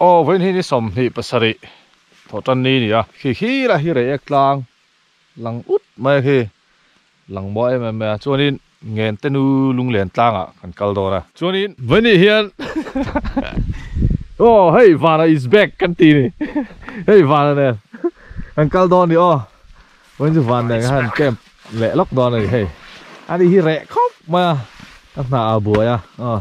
Aw vawiin hi ni sawmhnih pasarih thaw tan ni nia. Khi khi lah hi rei ek tlang lang ut mai khi lang maw em em mea chuanin ngen te nu lunglen tlangah kan kal dawn a. Chuanin vawinih hian aw hei vana is back kan ti ni hei vana nen kan kal dawn ni aw vawiin chu van nen kha han kem leh lawk dawn a ni hei. Ani hi reh khawp mai a ka hna ah a buai a aw.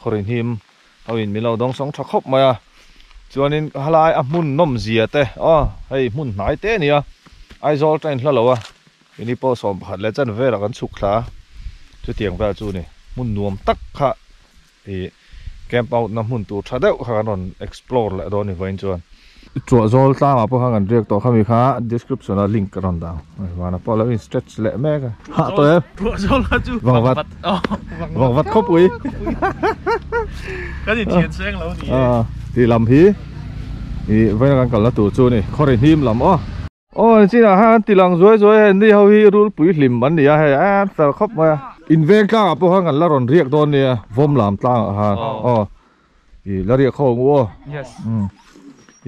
Khawrin him ho in min lo dawng sawng tha khawp mai a, chuanin ka halai a hmun nawm zia te aw hei hmun hnai te a ni a, Aizawl tain hla lo a, ini pawh sawm pakhat leh chanvel a kan chhuk thla a, chutiang vel chu ni hmun nuam tak kha ih camp out na hmun tur tha deuh kha kan rawn explore leh dawn ni vawiin chuan, Chhuah zawl tlangah pawh khan kan riak tawh kha mi kha description ah link ka rawn dan a vana pawh alo in stretch leh mek a hah tawh em chhuah zawl kha chu vang vat vang vat khawp ui kan inthian seng lo ni e a ti lam hi i vawiin a kan kalna tur chu ni khaw ri hnim lam aw. Aw an chinah khan tilang zuai zuai a ni ho hi rul puihlim an nia hei a tar khawp mai a in veng tlangah pawh khan kan la rawn riak dawn nia vawm lam tlangah khan aw ih la riak kho ang u aw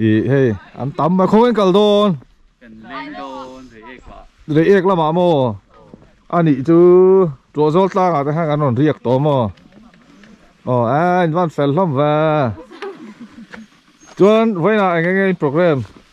ih hei an tam mai khaw in kal dawn rei ek lamah maw a nih chu Tuahzawl tlangah te khan kan rawn riak tawh maw aw a in van fel hlawm va chuan vawiinah eng enge in programme.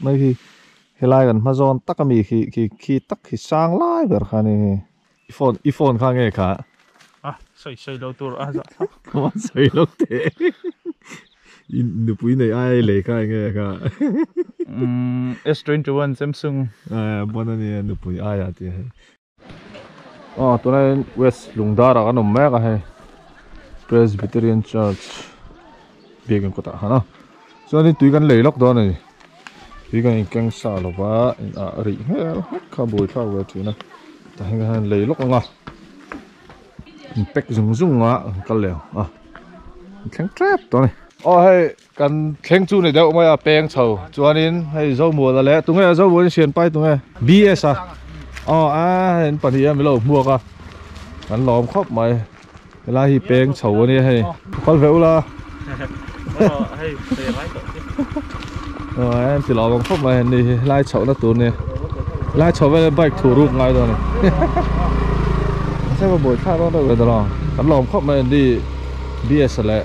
Mai hi, helai kan hma zawn tak a mi khi, khi, khi tak khi sang lai ber kha ni hi. I phone, i phone kha nge kha? A sawi sawi lo tur a zah thlak. Kham an sawi lo teh. I nupui nei ai lei kha nge kha? Umm S twenty one Samsung. Aa bawna nia nupui aia tih a. Aw tunah hian west lungdarah kan awm mek a hei presbyterian church biakin kawtah a han a chuan in tui kan lei lawk dawn a ni tui kan inkeng sa lova in ah a rih hmel hawk kha a buaithlak ve thin a tah hian kan han lei lawk ang a in pack zung zung a kan kal leh ang a thleng tep dawn a ni aw hei. Kan thleng chu ni deuh mai a peng chho chuanin hei Zomuala leh tunge Zomuala in sian pai tunge BS a aw a in pahnih a mi lo hmuak a kan lawm khawp mai helai hi peng chho a nia hei kal ve ula aw a in ti lawm ang khawp mai a ni hi helai chhoh na tur nia helai chho vele bike thu ruk ngai dawn a se va buai thlak dawn deuh ve ta lo kan lawm khawp mai a ni BS leh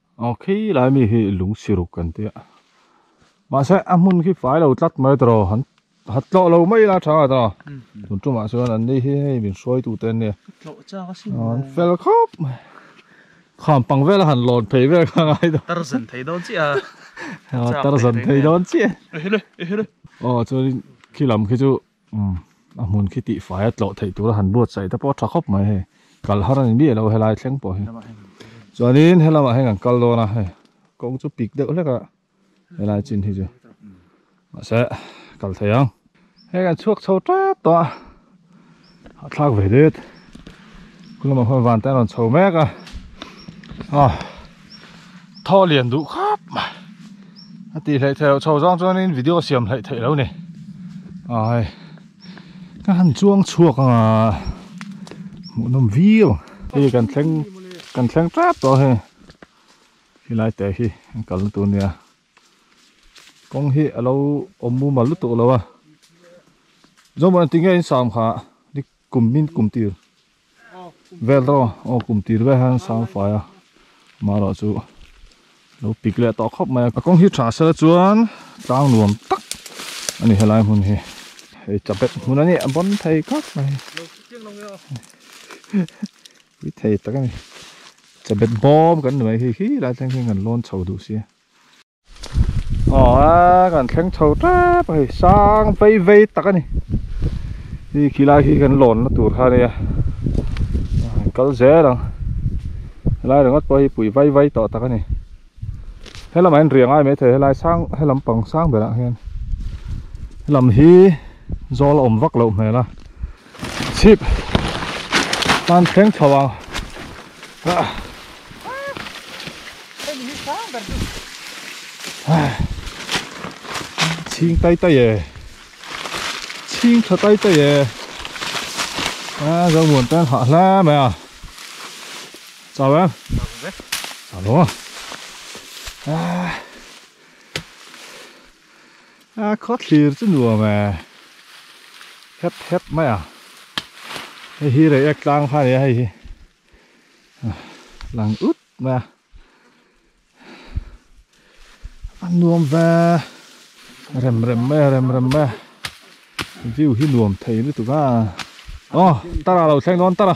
Aw khi lai mi hi lungsiruk kan tia mahse a hmun khi fai lo tlat mai ta raw han han tlawh lo mai la thang ata tun tumah chuan an ni hi hei min hruai tu te an ni tlawh chak a sin an fel khawp mai kham pang vela han lawn phei vel kha ngai ta tar zan thei dawn chiah a tar zan thei dawn chiah a aw chuan khi lam khi chu Umm, a hmun khi tihfai a tlawh theih tura han buatsaih te pawh tha khawp mai hei. Kal har a ni miah lo helai thleng pawh hi. Chuanin he lamah hian kan kal dawn a, hei, kawng chu pik deuh hlek a, helai chin hi chu. Mahse, kal thei ang. Hei kan chhuak chho tep tawh a, a thlak ve det. Khulama khawn vante an rawn chho mek a. Aw. thaw lian duh khap mai a tih hleh thei lo chho zang chuanin video siam hlaih theih lo ni ai ka han chuang chhuak anga hmuh nawm viau hei kan thleng kan thleng tap tawh hei helai teh hi an kalna tur nia kawng hi a lo awm mumal lutuk lo a zawngmah in ti nge in sam kha dik kum min kum tir Vel rawh, aw kum tir vel hian sang fai a, amaherawh chu lo pik leh tawh khawp mai a, ka kawng hi tha sela chuan tlang nuam tak a ni helai hmun hi, hei chabet hmun a ni a bawn thei kak mai pui thei tak a ni, chabet bawm kan ni mai hi, hilai thleng hi kan lawn chho duh sia. aw a kan thleng chho tep a hei sang vei vei tak a ni hei khi lai hi kan lawn na tur kha nia a kal zel ang helai ringawt pawh hi pui vai vai tawh tak a ni helamah hian riangai mai thei helai sang helam pang sang berah hian helam hi zawl a awm vak loh hmel a. Chhip tan thleng chho ang Hei ni hi sang ber chu Chhing tai tai e Chhing tha tai tai e A Zomuan ten hah hle mai a Chau em? Chau hle Chau lo a Ah Khawthlir chu nuam e, hep hep mai a, hei hi rei ek tlang kha a ni a hei hi, lang ut mai a, a nuam ve rem rem mai a, rem rem mai a, view hi nuam thei lutuk a, aw tara lo thleng dawn tara.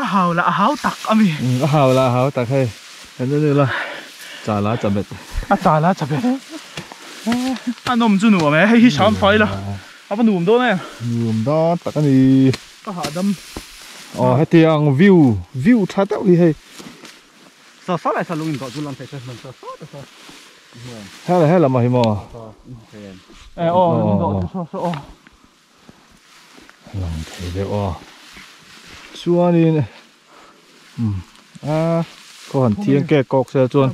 a hau lah a hau tak a mi. Umm a hau lah a hau tak hei kan en ila cha lah cha bet. A cha lah cha bet a nawm chu nuam e hei hi sam fai ila a va nuam dawn em. Nuam dan tak a ni. Ka hahdam aw heti ang view view tha deuh hi hei. Sa sa lah sa lawng in doh chu lam pek ka hman sa sa ta sa he lam ah hi maw. He aww. a lang thei deuh a chuanin umm a khaw han thiang kek kawk se a chuan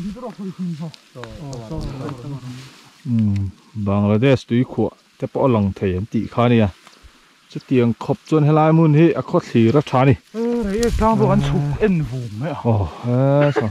umm bangladesh tuikhuah te pawh a lang thei an tih kha a nia chutiang khawp chuan helai hmun hi a khaw thlir a tha a ni aw he saw.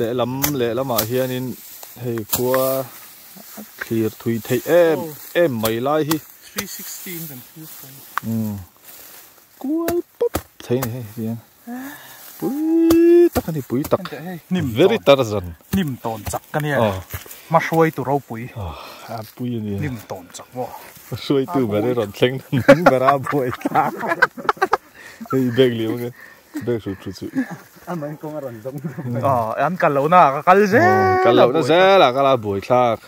lehlam lehlamah hianin hei khua thlir thui theih em em mai lai hi 360 kan thu kan um kual pop thei ni hei hian pui tak ani pui tak nim very tarzan nim ton chak ka nia ma hruai tu ro pui a pui ani nim ton chak bo ma hruai tu ber ron thleng ber a buai thlak hei bag liam ka Bag chu thu chu. A man kawng a rawn zawng zawng mai. Aw, an kal lohna ah ka kal zel a buai. Kal lohna zel ah ka la buai thlak.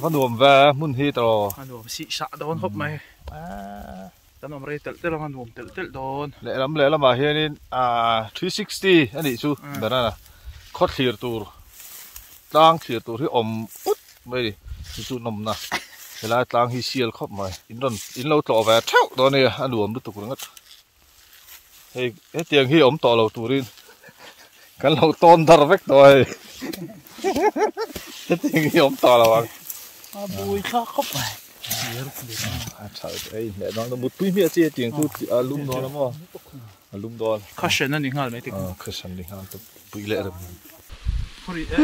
Ka nuam ve a hmun hi ta aw. Ka nuam sihsah dawn khawp mai. Kan awm rei telh telh ang a nuam telh telh dawn. Lehlam lehlam ah hian in three sixty a nih chu banana khaw thlir tur tlang thlir tur hi awm ut mai a ni. Chu chu nawmna helai tlang hi sial khawp mai. In rawn in lo tlawh ve theuh dawn a nia a nuam lutuk ringawt. hei hetiang hi awm tawh lo turin kan lo tawn dar vek tawh a hei hetiang hi awm tawh lo ang a bui tha khawp a a tha ei hmeh dang lo mutpui hmeh chi hetiang chu a lum dawn amaw a lum dawn kha hran a ni nghal mai te kha hran ni nghal te pui leh reng khawri e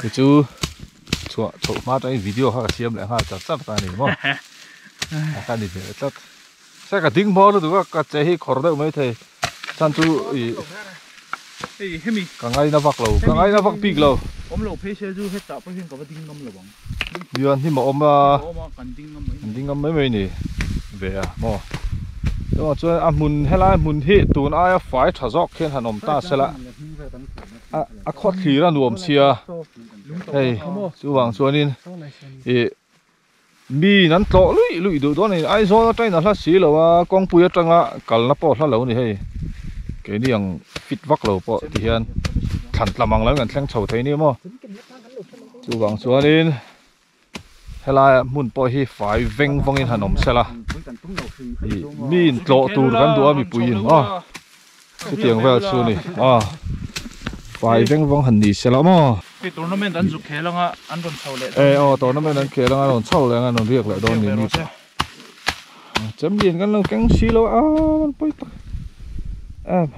Kei chu chhuah chhoh hma atangin video kha ka siam leh nghal chak chak ta nen maw a kha ni hmel tlat se ka ding hmawr lutuk a ka che hi khawr deuh mai thei chan chu i ka ngaina vak lo ka ngaina vak bik lo awm lo phei se chu hetah pawh hian ka va ding ngam lo ang. Bia'n hnim a awm a, kan ding ngam mai mai ni ve a maw. Chungah chuan a hmun helai hmun hi tun aia fai tha zawk khian han awm ta sela a khawthlir a nuam sia hei chuvang chuanin ih miin an tlawh luih luih duh dawn a ni. Aizawl atang in a hla si lo a, kawngpui atanga kalna pawh a hla lo a ni hei. Keini ang fit vak lo pawh tihian thlan tlam ang lo in kan thleng chho thei ania maw. Chuvang chuanin helaia hmun pawh hi fai veng vawngin han awm sela ih mi in tlawh tur kan duh a mipuiin maw chutiang vel chu ni maw fai veng vawng han ni sela maw hei tournament an zuk khel anga an rawn chho leh dawn e aw tournament an khel anga an rawn chho leh anga an rawn riak leh dawn ni mi pawh champion kan lo keng si lo a man pawi tak em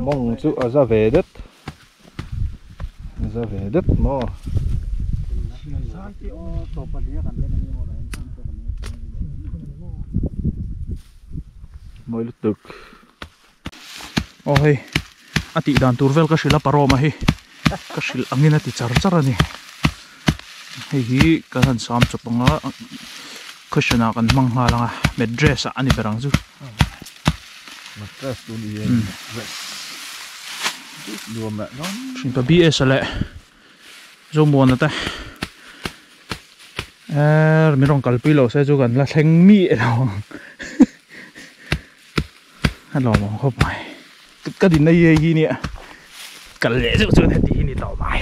mawng chu a za ve det. za ve dep maw mawi lutuk aw hei a tih dan tur vel ka hrilh a paroma hi ka hrilh angin a ti char char a ni. hei hi kal han sam chawp anga question ah kan hmang nghal anga mattress ah a ni ber ang chu mattress chu ni hian mattress nuam leh nuam thinpa bsa leh zawmuana te err min rawn kalpui lo se chu kan la thleng miah lo ang. a lawm ang khawp mai ka dinna hi heihi nia kal leh zeuh chuan heti hi ni tawh mai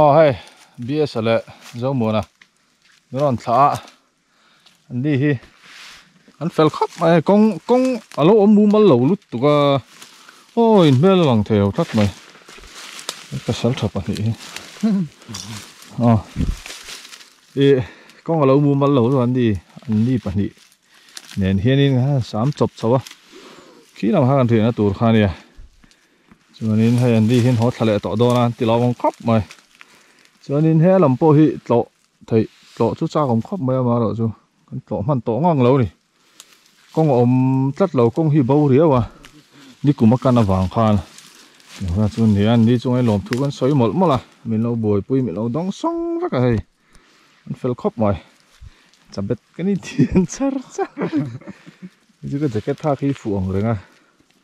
aw hei bs a leh zomuana min rawn thlah a an ni hi an fel khawp mai a kawng kawng a lo awm mumal lo lut tuk a aw in hmel a lang thei lo tlat mai ka sal tha pahnih hi aw i kawng alo mumal lo chuan ni anni pahnih nen hianin a sam chawp chauh a khîl ang kha kan riahna tur kha a nia chuanin hei anni hian haw thla leh tawh dâwn a an ti lo awm khawp mai chuanin he lam pawh hi tlawh theih tlawh chu châk awm khawp mai a amaherawhchu kan tlawh hman tawh nghâk lo a ni. kawng a awm tlat lo kawng hi bo riau a ni kum a kan avang khan engvah chu nia ni chunga hi lawmthu kan sawi mawlh mawlh a min lo buaipui min lo dawng sawng vek a hei an fel khawp mai chabet ka ni thian char char chu ka jacket phak hi fuh ang reng a.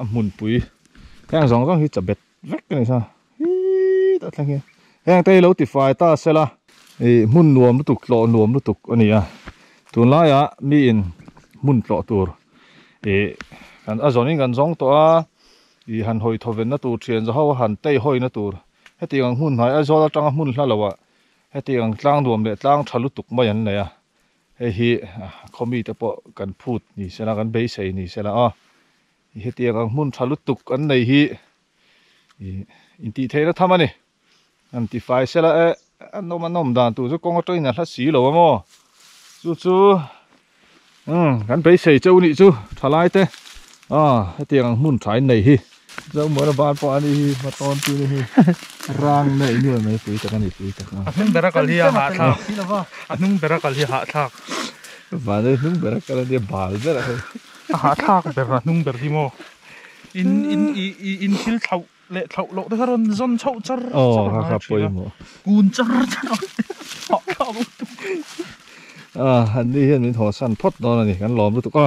a hmunpui heng zawng zawng hi chabet vek a ni sa hii ta thleng hi heng te hi lo tifai ta se la i hmun nuam lutuk tlawh nuam lutuk a ni a tun laia mi in hmun tlawh tur i kan a zawng in kan zawng tawh a i han hawi thaw venna tur thian za ho a han tei hawina tur heti ang hmun hnai aizawl atanga hmun hla lohah heti ang tlang nuam leh tlang tha lutuk mai an nei a Hei hi khawmi te pawh kan phut ni sela kan beisei ni sela a i hetiang ang hmun tha lutuk an nei hi i intih theihna tham a ni an ti fai sela e an awm an awm dan tur chu kawnga tawin a hla si lo a maw chu chu um kan beisei cheu nih chu thalai te a hetiang ang hmun thain nei hi. Zohmuara bar pawh a ni hi hma tawn tu ni hi rang na i nuai mai pui tak a ni pui tak a. A hnung ber a kal hi a hah thlak a hnung ber a kal hi a hah thlak. Vanei hnung ber a kal a nia bal ber a kal hi. A hah thlak ber a hnung ber hi maw in in i in thil thlauh leh thlauh loh te kha rawn zawn chauh char char a hnai thin a kun char char a hah thlak a. Ahh an ni hian min haw san phawt dawn a ni kan lawm lutuk a.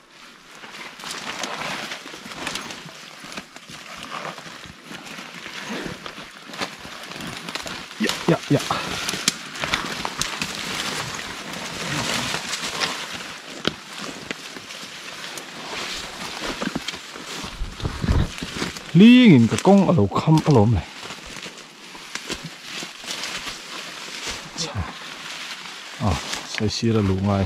hling in ka kawng a lo kham a lawm leh chhah a sawi sir a luh ngai.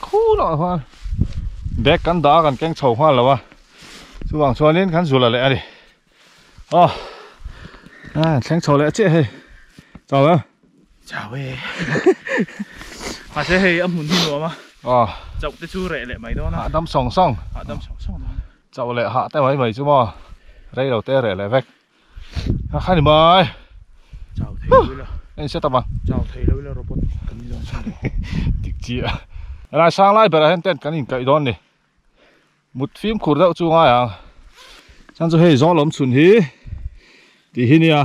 Khuu lohah khuan bag kan dah a kan keng chho nghal lo a chuvang chuanin kan zulh a leh a ni aw an thleng chho leh chiah hei chau em? Chau e mahse hei a hmun hi nuam a aw chauh te chu reh leh mai dawn a hahdam sawng sawng hahdam sawng sawng dawn a chauh leh hah te mai mai chu maw rei lo te reh leh vek. Khani mai. Chau thei lo ila. Anh sẽ tama. Chau thei lo ila robot kan ni dawn chhin. Dik chi a. Rai sang lai bera hen tent kan in kai dawn ni. Mut fim khur deuh chu ngai ang. Chan chu hei zawng lawm chhun hi ti hi nia.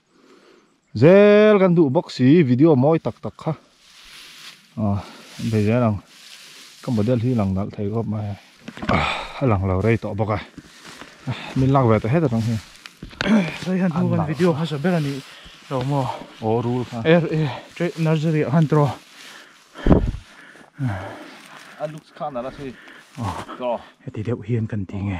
Zel kan duh bawk si video mawi tak tak kha ah vei zel ang ka model hi lang nalh thei khawp mai a lang lo rei tawh bawk a min lak ve ta het atang hian rei han hnu kan video hmasa ber a nih lo maw aw rul kha er e teh nursery ah khan tawh a looks kha a nalh a si tawh heti deuh hian kan ti nge.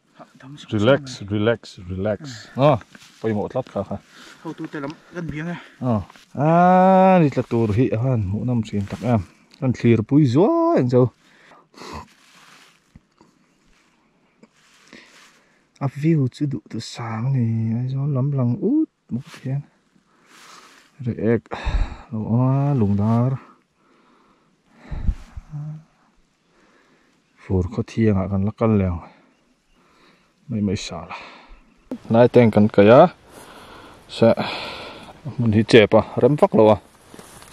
Relax, relax, relax. Aw, pawimawh tlat kha kha. Hotu te lam kan biang e. Aw. Aaa, ni tla tur hi a han hmuh nam thin tak em. Kan thlir pui zuai ang chu. A view chu duh duh sang a ni. Aizawl lam lang ut. Hmuh chian reh ek lo aw a lungdar fur khaw thiangah kan la kal leh ang mai mai sala hnai teng kan kai a seh hmun hi chep a rem vak lo a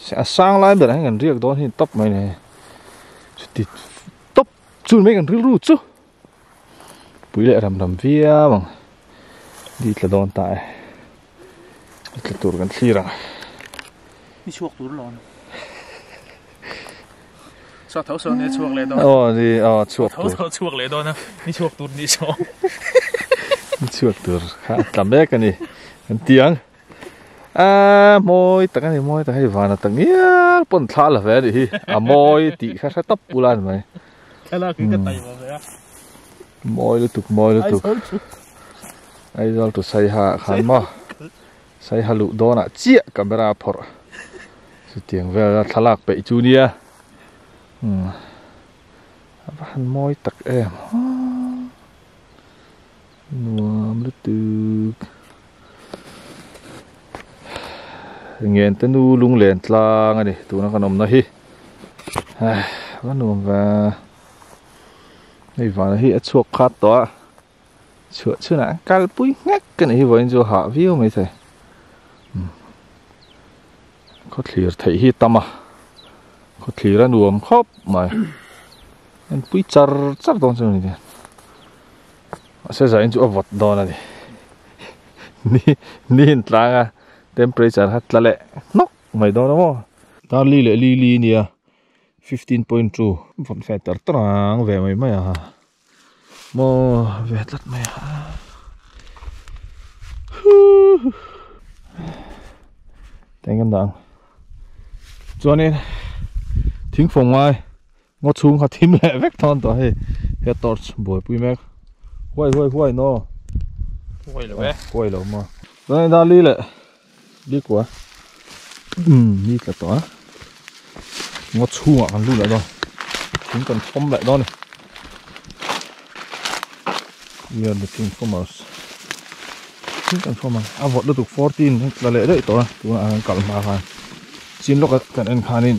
se a sang lai berah hian kan riak dawn hi top mai nei chuti top chu mai kan rilru chu pui leh ram ram viau ang di tla dawn ta e di tla tur kan thlir ang ni chhuak tur lo ni sa tho sa ni chhuak leh dawn o ni o chhuak tur tho chhuak leh dawn a ni chhuak tur ni so ni chhuak tur kha tla mek ani kan tiang a moi tak ani moi tak hei vana tak ngial pon thla la ve ani hi a moi ti kha hre tawp ulan mai Thlalak hi ka tai lo ve a. Mawi lutuk mawi lutuk. Aizawl chu saiha khan maw. Saiha luh dawnah chiah camera a phawrh. Chutiang vel a thlalak peih chu nia. Hmm. A va han mawi tak em. Nuam lutuk. Ngente nu lung len tlang a ni tuna kan awmna hi. Ka nuam va. Hei vana hi a chhuak khat tawh a. Chhuah chhuna an kal pui ngek ka ni hi vain chu ha viau mai thei. Hmm. Khaw thlir thei hi tama. Khaw thlir a nuam khawp mai. An pui char char dawn chu ni A se zah in chu a vawt dawn a ni. Ni ni in tlang a temperature kha tla leh hnawk mai dawn a maw. Tar li leh li li a nia fifteen point two. Vawt ve tar tar ang ve mai mai a ha. Maw ve tlat mai a ha. Teng kan dah ang. Chuan in thing fawng ngai Ngo chhung kha thim leh vek thawn tawh hei. He torch buaipui mek. Huai huai huai no. Huai lo e. Huai lo ma. Tuna in dali le. Li kua. Um, li tla tawh a. Ngo chhung a kan lu leh dawn. Thing kan thom leh dawn. We are looking for mouse. Thing kan thom a. A vawt lutuk 14 tla leh daih tawh a. Tuna an kalma khan. Chin lawk a kan en khanin.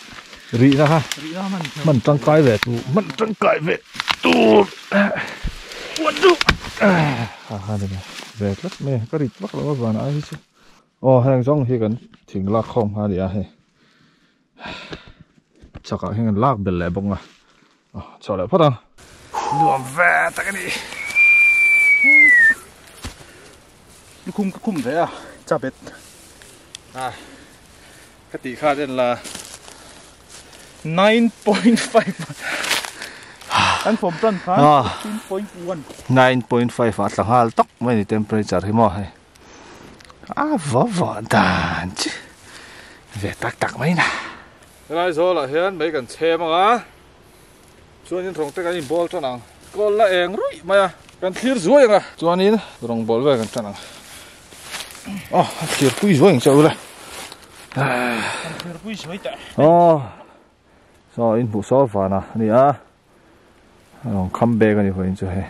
rihna ha hman tangkai ve tur hman tangkai ve tur huan chu aha ni mai ve tlat mai ka rit vak lo a van ai hi chu aw heng zawng hi kan thing lak khawm kha a nia hei chhakah hian kan lak bel leh bawk ang a. Chhuah leh phawt a, nuam ve tak a ni. Lukhum ka khum ve a, chap bet. A, ka tih kha ren la. 9.5 Kan form plan khan 15.1 9.5 a tla nghal tak mai ni temperature hi maw hei. A vo vo dan chi. Ve tak tak mai na. Helai zawlah hian mei kan chhem anga chuanin rawngte kan inbawl tan ang, kawl la eng ruih mai a, kan thlir zuai anga chuanin rawng bawl vel kan tan ang, aw a thlir pui zuai ang che ula kan thlir pui zuai teh aw saw in hmuhsawr vana ania. Aww come back a ni vawiin chu hei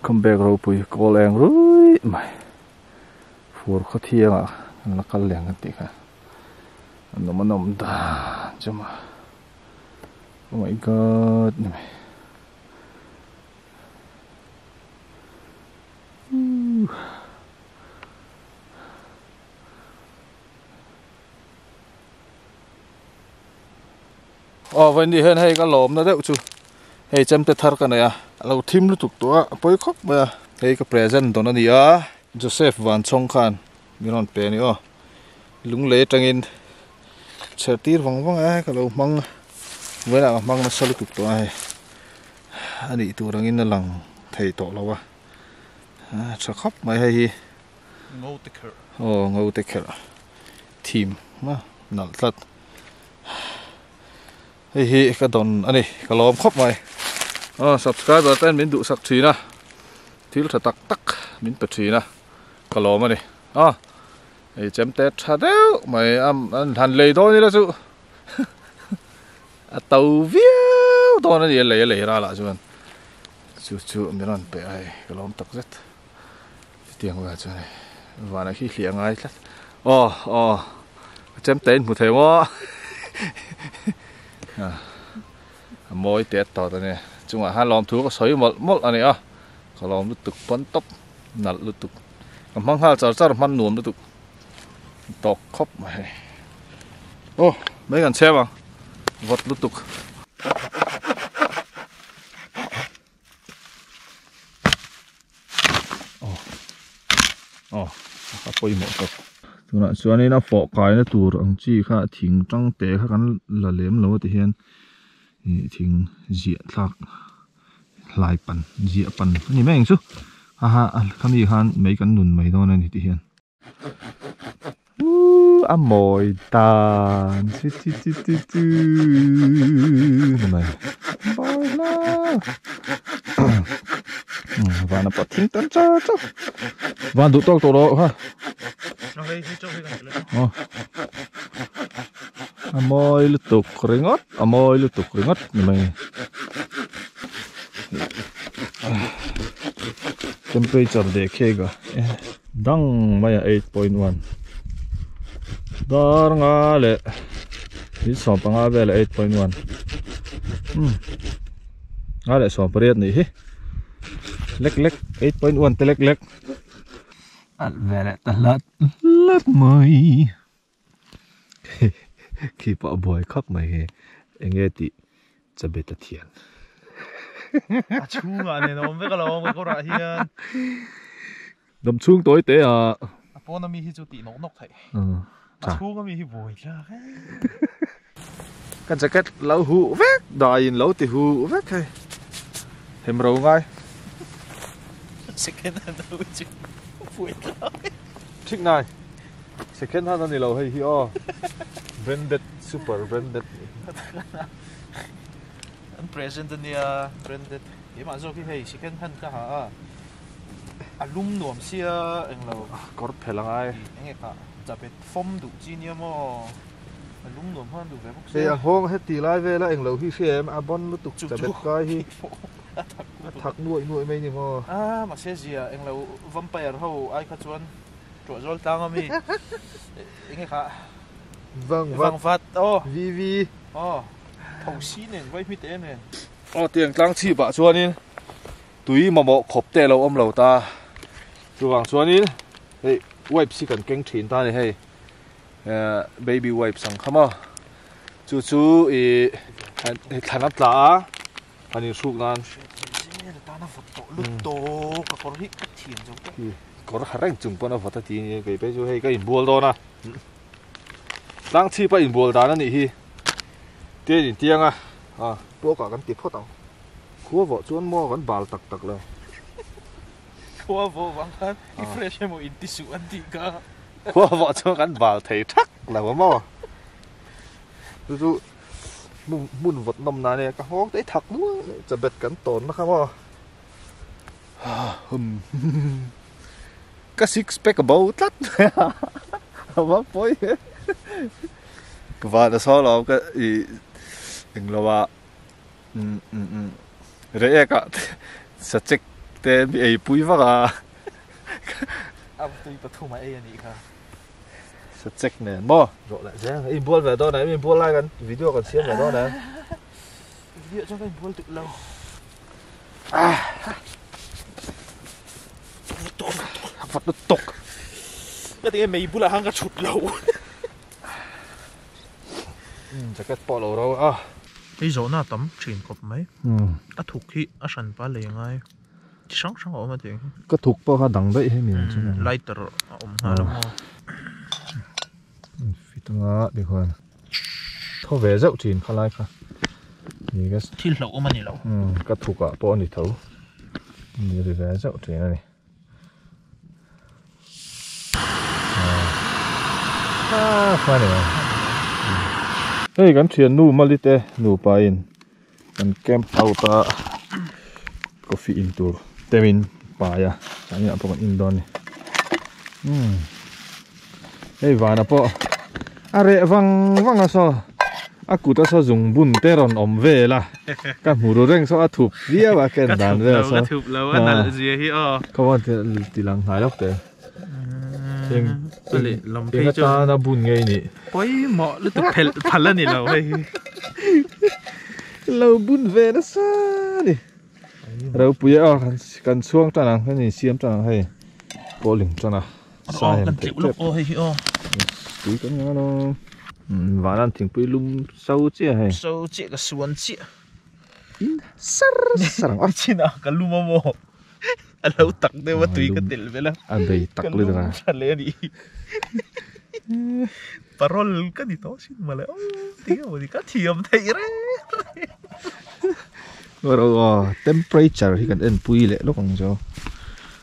come back ropui kawl eng ruih mai fur khawthianga kan la kal lian kan tih kha a nawm a nawm dan chu mah oh my god ni mai Aw vawi nih hian hei ka lawmna deuh chu hei chemte thar ka nei a, a lo thim lutuk tawh a, a pawi khawp mai a, hei ka present dawn a ni a. Joseph Vanchawng khan min rawn pe a ni aw, lunglei atangin chher tir vang vang a, hei ka lo hmang vawiinah ka hmang nasa lutuk tawh a hei, a nih tur angin a lang thei tawh lo a, a tha khawp mai hei hi, aw ngo te kher, thim nalh tlat. hei hi ka dawn a ni ka lawm khawp mai aw subscriber te min duhsak thin a thil tha tak tak min pe thin a ka lawm a ni aw hei chem te tha deuh mai a an han lei dawn ila chu a to viau dawn a ni a lei a lei rala chuan chu chu min rawn pe a hei ka lawm tak zet. Chutiang la chuan hei. Vana khi hliah ngai tlat. Oh, oh. Chem tein hmu thei maw? A mawi têt tawt a nia. Chungah hian lawmthu ka sawi mawlh mawlh a nia. Ka lawm lutuk pawn tawp. Nalh lutuk. Ka hmang nghal char char hman nuam lutuk. Tawk khawp mai hei. Oh, mei kan chhem ang. Vawt lutuk. aw a pawimawh tawh tunah chuanin a fawh kaina tur ang chi kha thing tang te kha kan la lem lo a ti hian ih thing ziah thlak hlai pan ziah pan a ni mai ang chu a ha khami khan mei kan nun mai dawn a ni tih hian. Uuh a mawi dan chu chu chu chu chu mawi hlaa vana pawh a thim tan chau chau van duh tawk tawh loh ha aw a mawi lutuk ringawt a mawi lutuk ringawt ni mai temperature dehkhek ah. Dang mai a eight point one. Dar nga le. Hi som panga ve le eight point one. Hmm. Nga le som pariat ni hi. Lek lek eight point one te lek lek. Al ve le ta lat lat mai. khi pawh a buai khawp mai he eng nge tih chabe ta thian a chhungah nen a awm vek alo ka kawrah hian hnam chhung tawi te a a pawn ami hi chu tih nawk nawk theih a chhung ami hi buai thlak e. Ka jacket lo huh vek daiin lo ti huh vek hei. Hem ro ngai. Second hand ho chu fuih thlai. Thik ngai. Second hand a ni lo hei hi aw. Branded super branded. An present a nia branded. Keimah zawk hi hei second hand ka ha a. A lum nuam sia englo. Kawr phel a ngai. Eng nge ka jacket fawm duh chi nia maw. A lung nuam hman duh ve bawk se. Hei a hawng he tih lai vela eng lo hi hria em a bon lutuk chabet kai hi a thak nuaih nuaih mai ni maw. A mahse zia eng lo vampire ho ai kha chuan tuah zual tlang a mi eng nge kha vangvat aw vivi aw thosi nen vai hmit em em aw tiang tlang chhip ah chuan in tui mamawh khawp te lo awm lo ta chuvang chuan in hei wipe si kan keng thin ta ni hei baby wipes ang kha maw chu chu ih i thlan a tla a a ni hruk nan kawr ha reng chung pawn a vawt a ti ni e keipe chu hei ka inbual dawn a tlang chhip a inbual dan a nih hi te in tiang a a pawkah kan ti phawt ang khua vawh chuan maw kan bal tak tak lo Khua vawh vang khan i fresh emaw in ti suh an tih kha. Khua vawh chuan kan bal thei thak lo maw. Chu chu hmun hmun vawt nawm nan e ka nghawng tei thak nual mai chabet kan tawn na kha maw. Ka six pack a bo tlat mai a a va pawi e. Ka van a sawi lo ka i englo a. Reh ek ah sachek te mi ei pui vak a. A va tui pathum a ei a nih kha. Sachek nen maw? Rawh leh zel a inbual ve dawn a, emi bual lai kan video kan siam leh dawn a. Video chuan ka inbual duh lo. Vat lutuk. Ka ti nge mei bulah khan ka chhut lo. jacket pawh alo ro a hei zawhna a tam thin khawp mai a thuk hi a hran pal leh ngai chi hrang hrang a awm a tiang hi ka thuk pawh kha a dang daih hemi ang chuan lighter a awm nghal ang aw an fit anga tikhuan tho ve zeuh thin kha lai kha ni ka thil hlauh awm a ni lo ka thuk ah pawh a ni tho ni ri ve zeuh thin a ni. Hei kan thiannu Mali te nupa in kan camp out a coffee in tur temin pai a chuan in ah pawh kan indawn a ni umm. Hei vana pawh a reh vang vang a saw a kut a saw zung bun te rawn awm vel a ka hmu ru reng saw a thup viau a ken dan vel a saw ka thup lo a nal zia hi aw ka wan ti lang hnai lawk te eng pali lam phei chu ta na bun ngei ni poimawh lutuk phel phal a ni lo hei hi lo bun ve na sa ni ropuia kan kan chhuang tan ang kan insiam tan ang hei pawh ling tan a Sahen kan tleuh lawk aw hei hi aw. Tui kan ngai lo. Vanam thingpui lum so chiah hei. So chiah ka suan chiah. In sar sar ang. Chin a ka lum a mo. A lo tak deuh a tui ka tel vela. A bei tak le deuh a. Ka lum tha le a nih hi. Parol ka ni tawh chin mawle aw tih ang ka thiam theih reng reng. Ruah ruah temperature hi kan en pui leh lawk ang chu.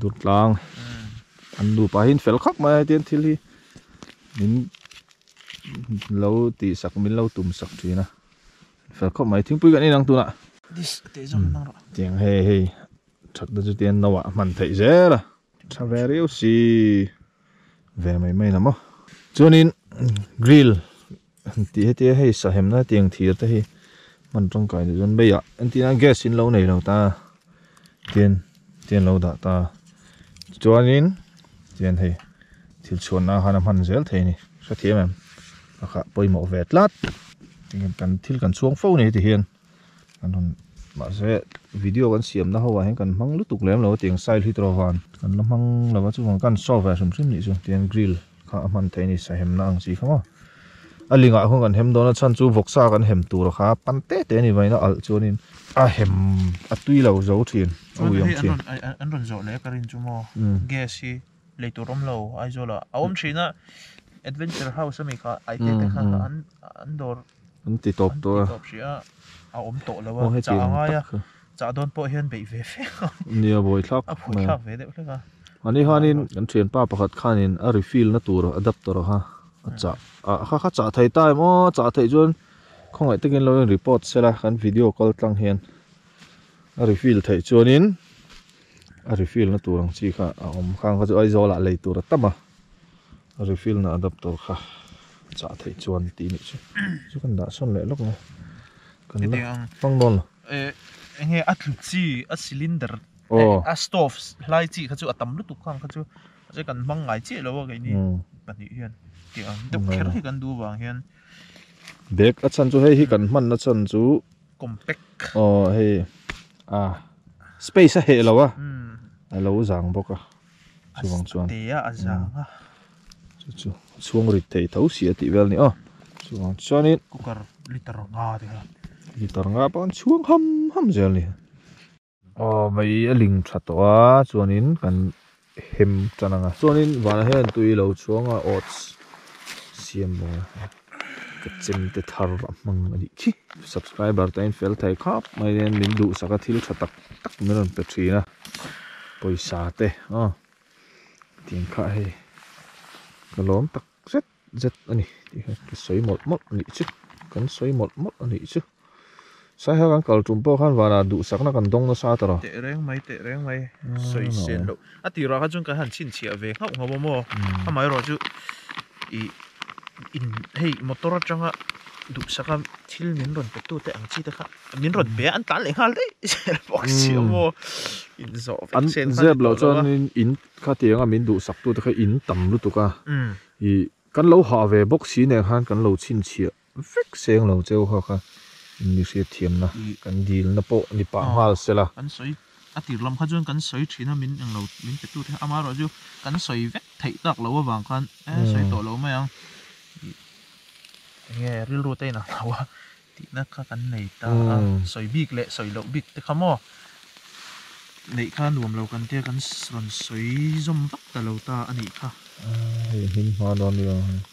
Dawtlang an nupa hi fel khawp mai a tian thil hi min lo tih sak min lo tum sak thin a fel khawp mai thingpui kan inang tunah tiang hei hei that te chu tian no ah hman theih zel a tha ve riau si. Ve mai mai lam a. Chuanin grill an tih hetia hei sahem na tiang thir te hi hman tangkai leh dawn mai a entina gas in lo nei lo ta tian tian lo dah ta chuanin tian hei thil chhuan na han a hman zel thei ni hrethiam em pakhat pawimawh ve tlat kan thil kan chhuang fo nei ti hian kan rawn mahse video kan siamna ho ah hian kan hmang lutuk lem lo a tiang style hi tawh van kan la hmang lo a chuan kan saw ve hrim hrim nih chu tian grill kha a hman theih a ni sahemna ang chi kha maw a lingah khawn kan hem dawn a chhan chu vawksa kan hem tur kha pan te te a ni vain a alh chuan in a hem a tui lo zo thin a ui ang thin an rawn zawh leh a ka rin chu maw gas hi lei tur awm lo aizawl ah a awm thin a adventure house ami kha aite te kha an dawr-- An ti tawp tawh a. An ti tawp hria a. A awm tawh lo a. Chah a ngai a. Chah dawn pawh hian beih ve fek a. Nia a buai thlak. A buai thlak ve deuh hlek a. A ni hian in kan thianpa pakhat khanin a refill na tur adapter a a chah a. A kha kha chah thei ta em aw a chah theih chuan khawngaih takin lo in report sel a kan video kal tlang hian a refill theih chuan in a refill na tur ang chi kha a awm khang kha chu Aizawl ah lei tur a tam a. Refill na adaptor kha chah theih chuan tih nih chu chu kan dah sawn leh lawk ang a kan la hmang dawn lo. Eng nge a tlu chi a cylinder a stove hlai chi kha chu a tam lutuk kha ang kha chu che kan hmang ngai chiah lo a keini pahnih hian tih ang deuh kher hi kan duh vang hian bag a chhan chu hei hi kan hman na chhan chu compact aw hei a space a heh lo a a lo zang bawk a. A te a a zang a. Chu chu chhung rit theih tho si a tih vel a ni a. Chuvang chuanin. Cooker litre nga a ti kha. Litre nga pawh an chhuang ham ham zel a ni. Aw mai a ling tha tawh a chuanin kan hem tan ang a. Chuanin vanah hian tui lo chhuang a oats siam lo a. Ka chem te thar a hmang a nih khi. Subscriber te'n fel thei khap mai nen min duhsak a thil tha tak tak min rawn pe thin a. Pawisa te a tiang kha hei ka lawm tak zet zet a ni tih kha ka sawi mawlh mawlh a nih chu kan sawi mawlh mawlh a nih chu sai ho kan kal tum pawh khan vanah duhsakna kan dawng nasa ta lo. Teh reng mai teh reng mai sawi sian loh a ti rua khan chuan kan han chhinchhiah ve nghauh nghauh a maw amaherawhchu. Ih in hei motor atanga duhsaka thil min rawn pe tute ang chi te kha min rawn pe a an tlan leh nghal daih zel bawk si a maw inzawh vek se kha ni tawh lo a. An zep lo chuan in khati anga min duhsak tute kha in tam lutuk a. Ih kan lo hah ve bawk si nen khan kan lo chhinchhiah. vek seng lo cheu kha kha English i thiam na kan dil na pawh ni pah nghal se la. Kan sawi a tir lam kha chuan kan sawi thin a min eng lo min pe tute kha ama erawh chu kan sawi vek theih tak lo avang khan eeh sawi tawh lo mai ang tih enge rilru te in ang lo a tih na kha kan nei ta a sawi bik leh sawi loh bik te kha maw neih kha nuam lo kan tia kan rawn sawi zawm vak ta lo ta a nih kha. Hei hming hma dawn nia.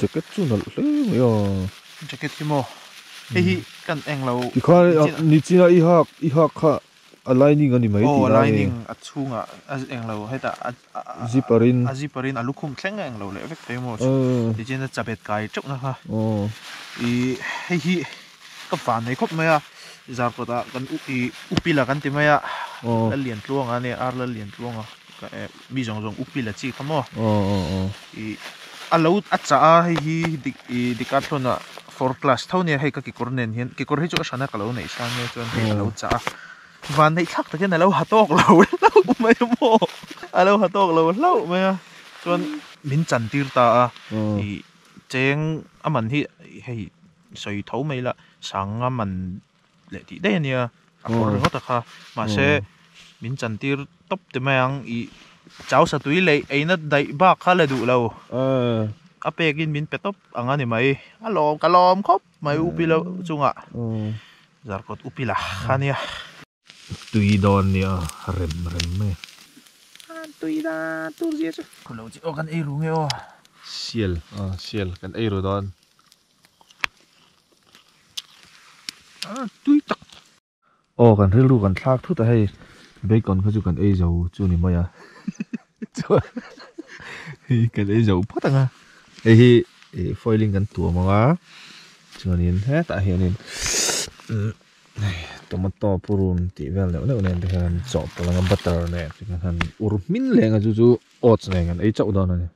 Jacket chu nalh hle mai a. Jacket hi maw hei hi kan eng lo. I kha nichin a i hak i hak kha a lining a ni mai tih lai e. Aw lining a chhung ah a eng lo hetah a zipper in a zipper in a lukhum thleng a eng lo leh vek te emaw chu nichin a chabet kai teuh na kha i hei hi ka van nei khawp mai a zar kawtah kan uk i upila kan ti mai a la lian tluang a nia ar la lian tluang a. mi zawng zawng upil a chi kha maw ih a lo a chah a hei hi ih decathlon ah four class tho nia hei ka kekawr nen hian kekawr hi chu a hran a ka lo neih sang nia chuan hei a lo chah a van neih thlak takin a lo ha tawk lo hlauh mai a maw a lo ha tawk lo hlauh mai a chuan min chan tir ta a ih cheng a man hi hei sawi tho mai ila sanga man-- leh tih daih a nia a pawrh ringawt a kha mahse min chan tir tawp te mai ang i chau satui leh eina daih bak kha la duh lo a pek in min pe tawp ang a ni mai a lawm ka lawm khawp mai upi lo chunga zarkawt upi lah kha nia tui dawn nia rem rem mai a tui da tur zia chu khulo chi aw kan ei ru nge aw sial sial kan ei ru dawn. Aw kan rilru kan thlak thut a hei bacon kha chu kan ei zo chu ni mai a chuan hei kan ei zo phawt ang a hei hi ih foil in kan tuam ang a chuanin hetah hianin tomato purum tih vel deuh deuh nen te hian an chawhpawlh ang a butter nen te kha han ur hming leh ang a chu chu oats nen kan ei chauh dawn a ni.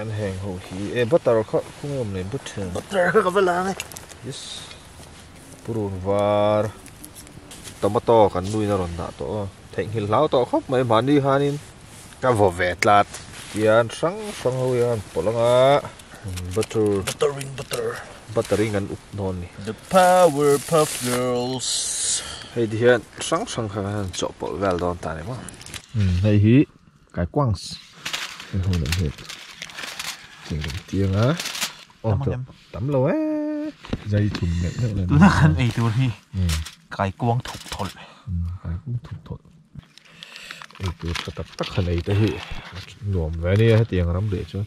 An heng ho hi e butter kha khum em le butter butter kha ka va lang e yes purun var tomato kan nui na ron dah to thei nghil hlau to khop mai mani han in ka vo ve tlat kian sang sang ho yan polanga butter butter in butter butter in kan up non ni the power puff girls hei di hian sang sang kha kan chawh pawlh vel don ta ni maw hei hi Kai kuangs kan hmu leh hmet tih kan ti ang a aw tawh tam lo e zai chhum meuh meuh la ni tuna kan ei tur hi kai kuang thuk thawlh kai kuang thuk thawlh ei tur tha tak tak han ei te hi nuam ve a nia hetiang ram leh chuan.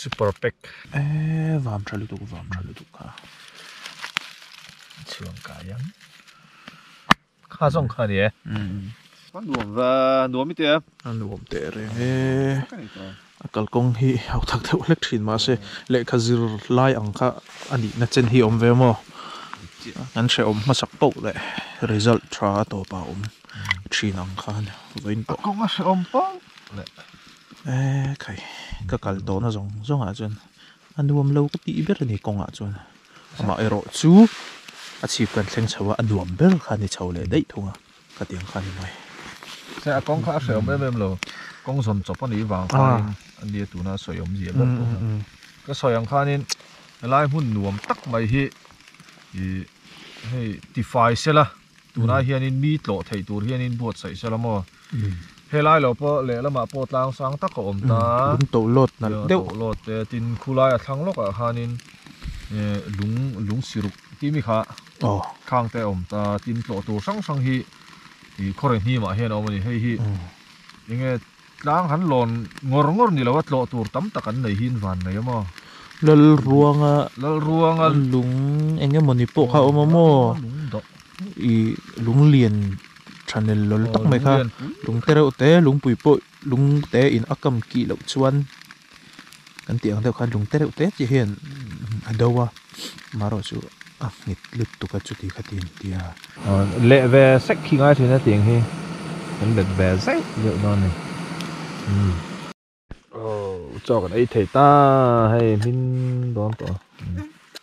super pack eee vam tha lutuk vam tha lutuk kha chhuang ka hian kha zawng kha ni e a nuam va nuam ite a a nuam teh reng e a kalkawng hi hauh thak deuh hlek thin mah se lehkha zir lai ang kha a nihna chen hi a awm ve maw kan hrehawm hmasak pawh leh result tha a tawpah a awm thin ang khan vawiin pawh a kawng a hrehawm pawh leh. Eee khai, ka kal tawhna zawng zawngah chuan a nuam lo ka tih ber a ni kawngah chuan amah erawh chu a chhip kan thleng chho a, a nuam ber kha a ni chho leh daih thung a, ka tiang kha a ni mai. Hre a kawng kha a hreawm em em lo, kawng zawn chawp a nih vang khanin a nia tuna a sawi awm zia ber tawh a, ka sawi ang khanin helai hmun nuam tak mai hi ih hei tifai sela. Tunah hianin mi tlawh theih tur hianin buatsaih se la maw? Helai lo pawh lehlamah pawh tlang sang tak a awm ta a. Lung tawh lawt nalh deuh. Lung tawh lawt te a tin. Khulai a thlang lawkah khanin lung lung si ruk timi kha khang te a awm ta a. Tin tlawh tur hrang hrang hi khaw rehnimah hian a awm a ni. Hei hi enge. Tlang han lawn ngawr ngawr ni lo a, tlawh tur tam tak an nei hi in van mai a maw? Lalruanga Lalruanga lung eng emaw ni pawh kha a awm a maw? Lalruanga lung doh. Ih lung lian tha nel lawl tak mai kha. Lung lian pui. Lungte reuhte lungpui pawh lungte in a kam kih loh chuan kan tih ang deuh khan lung te reuh te chiah hian a do a amaherawh chu a nghit lut tuk a chuti kha ti intia leh ve sek khi ngai thin a tih ang hi kan bet ve zai deuh dawn a ni aw chawk an ei thei ta hei hmin dawn tawh a.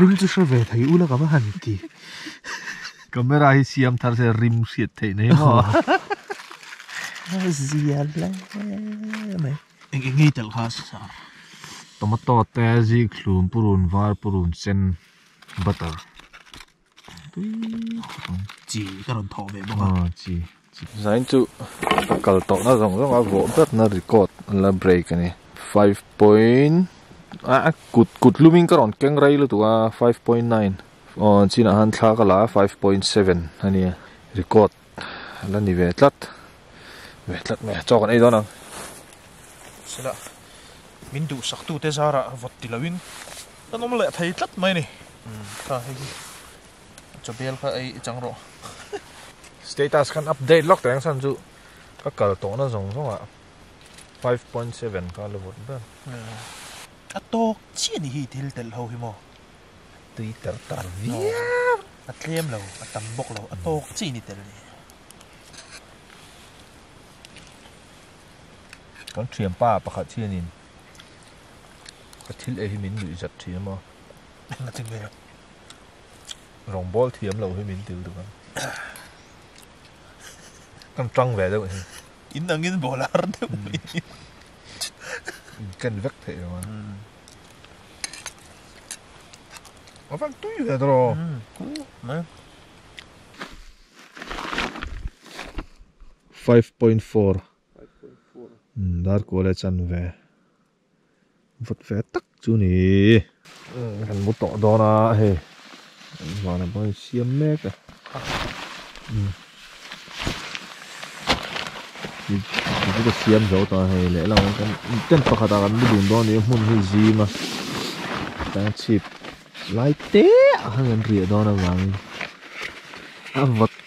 rim chu hre ve thei ula kama han ti camera hi siam thar se rim hriat thei nei ho zia le mai eng eng tel kha sa tomato te zik thlum purun var purun sen butter chi ka rawn thawh ve bawk a ah, chi zain chu kal tawhna zawng zawng a vawh bratna record la break ani five point a ah, kut kut lumin ka rawn keng rei lutuk a five point nine aw chinah han thla ka la five point seven ania record la ni ve tlat ve tlat mai a chaw kan ei dawn ang sela min duh sak tu te zara vawt ti lovin kan awm leh thei tlat mai ni kha hei hi chawbel kha ei chang rawh status khan update lawk teng san chu ka kal tawhna zawng zawng a 5.7 ka la vawt ber a tawk chiah ni hi thil telh ho hi maw tui ter tan viau a tlem lo a tam bawk lo a tawk chi ni tel ni kan thiam pa pakhat hian in ka thil ei hi min nuih zat thiam a na ti me rong bol thiam lo hi min til du kan kan tang ve deuh ni in angin bolar deuh ni kan vek thei lo Ofan tui ve ta ro. Mai. 5.4 Dar ko le chan ve. Vut ve tak chu ni. Kan mu tawh dawn a hei. Vana bang hi siam mek a. Tute ka siam zo ta hei leh lo kan intent pakhat ah kan lu dun dawn a ni a hmun hi zing a chutah hian chhip lai te ah khan kan riah dawn avangin a vat--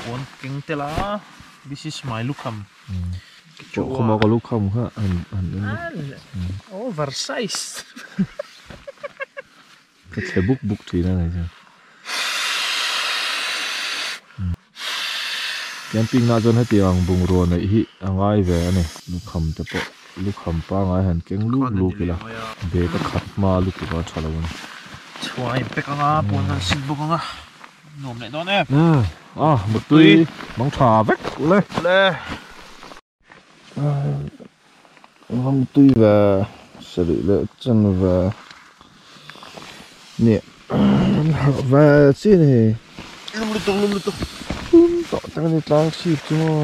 puan keng tel a this is my lukham over size ka thle buk buk thin a nei chuan camping ah chuan heti ang bungrua neih hi a ngai ve a ni lukham te pawh lukham pangai han keng lup lup ila bag a khat hma lutuk a tha lo a ni chhuain pack anga puan han sit bawk anga. Nuam leh dawn em. Umm a mutui bang tha vek le. Le. Aa mutui ve sarih leh chan ve nih an harh ve chian a ni. Lum lutuk lum lutuk. Tum tawh tak a ni tlang sip chu maw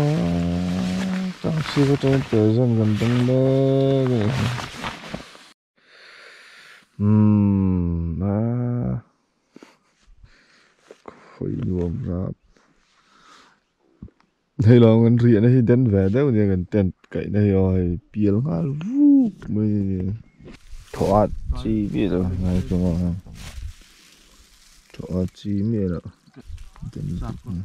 tlang sip atangin pezan kan dang mek a ni. Umm a khawi nuam rap. Hei lo kan riah na hi den ve deuh nia kan tent kaih na hi aw hei pial nghal vuk mai a ni. Thaw a chi miah lo ngai chunga hian thaw a chi miah loh den vek nia.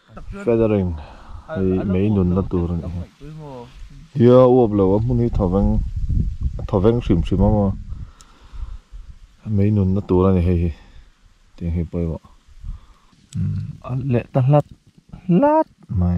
Feathering hei mei nunna tur a nih hi. Tia uap lo a hmun hi thawveng a thawveng hrim hrim a maw mei nunna tur a ni hei hi tiang hi pawh erawh a leh ta hlat hlat mai.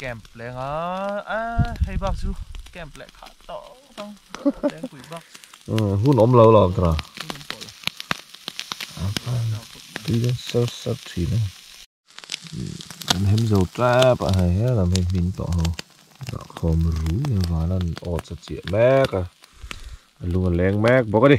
Camp leng a a hei bak chu camp leh kha to tang leng pui bak hun om lo lo tra Tile sir sir thin a Kan hem zo trap a hei hian lam hei hming tawh ho Dah khawm ru mai a valan odds a chiah mek a a lung a leng mek bawk a ni.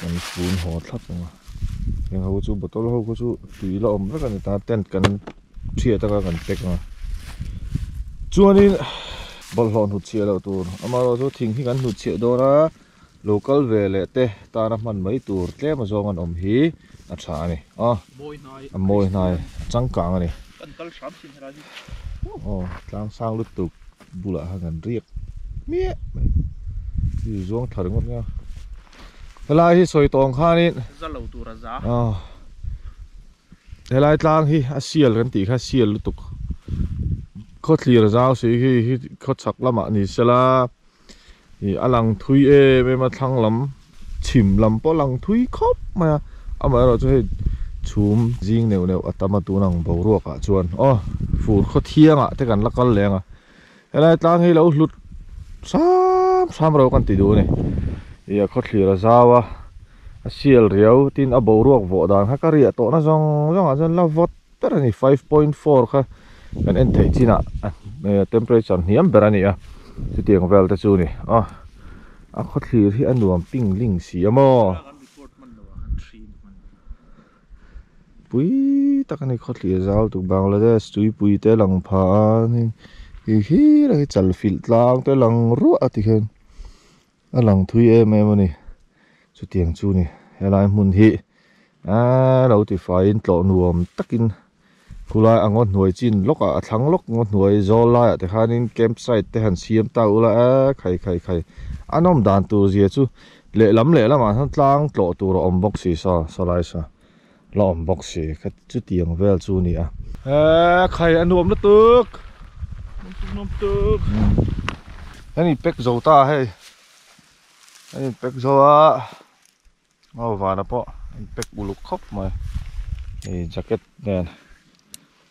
kan tun haw thlap ang a heng ho chu bottle ho khaw chu tui la awm vek a ni ta tent kan chhiah taka kan pack ang a chuanin bawlhhlawh hnut chhiah loh tur amaherawh chu thing hi kan hnut chhiah dawn a local ve leh te tana hman mai tur tlem azawng an awm hi a tha a ni a a mawi hnai changkang a ni aw tlangsang lutuk. Bulah han kan riak miah mai. Chu chu zuang thar ngawt ngang. Helai hi sawi tawng khanin za lo tura za. Ah. Helai tlang hi a sial kan tih kha sial lutuk. Khaw thlir zau si khi hi khaw chhak lamah ni sela. I a lang thui em em a thlang lam. chhim lam pawh a lang thui khawp mai a amaherawh chu hei chhum zing neuh neuh a tam a tun ang boruak ah chuan aw fur khaw thiang ah te kan la kal leh ang a helai tlang hi lo hlut hram hram ro kan ti duh a ni ih a khawthlir a zau a a sial riau tin a boruak vawh dan kha ka riah tawh na zawng zawng ah chuan la vawt. ber a ni five point four kha kan en theih chin ah temperature an hniam ber a ni a chutiang vel te chu a ni aw a khawthlir hi a nuam ping ling si a maw pui tak a ni khawthlir zau tu bangladesh tuipui te lang pha a hihhira hi chalfilh tlang te lang ruah a tikhian. A lang thui em em a ni. Chutiang chu ni. Helai hmun hi aa lo ti fai in tlawh nuam tak in khulai a ngaw hnuai chin lawk a a thlang lawk ngaw hnuai zawl lai ah te khan in camp site te han siam ta ula a khai khai khai a nawm dan tur zia chu lehlam lehlam ah tlang tlawh tur a awm bawk si sa sa lai sa. La awm bawk si kha chuti ang vel chu ni a. Eeii khai a nuam lutuk nuam tuk kan in pack zo ta hei kan in pack zo a aw vana pawh in pack uluk khawp mai hei jacket nen.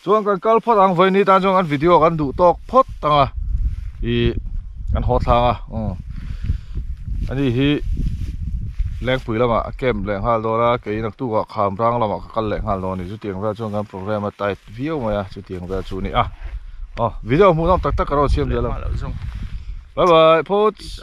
Chuan kan kal phawt ang vawi ni tan chuan kan video kan duh tawk phawt ang a ih kan haw thlang a umm ani hi Lengpui lamah a camp leh nghal dawn a kei naktuk ah Khamrang lamah ka kal leh nghal dawn a ni chutiang vel chuan kan programme a tight viau mai a chutiang vel chu a ni a aw video hmuhnawm tak tak ka rawn siam leh lo bye bye phots.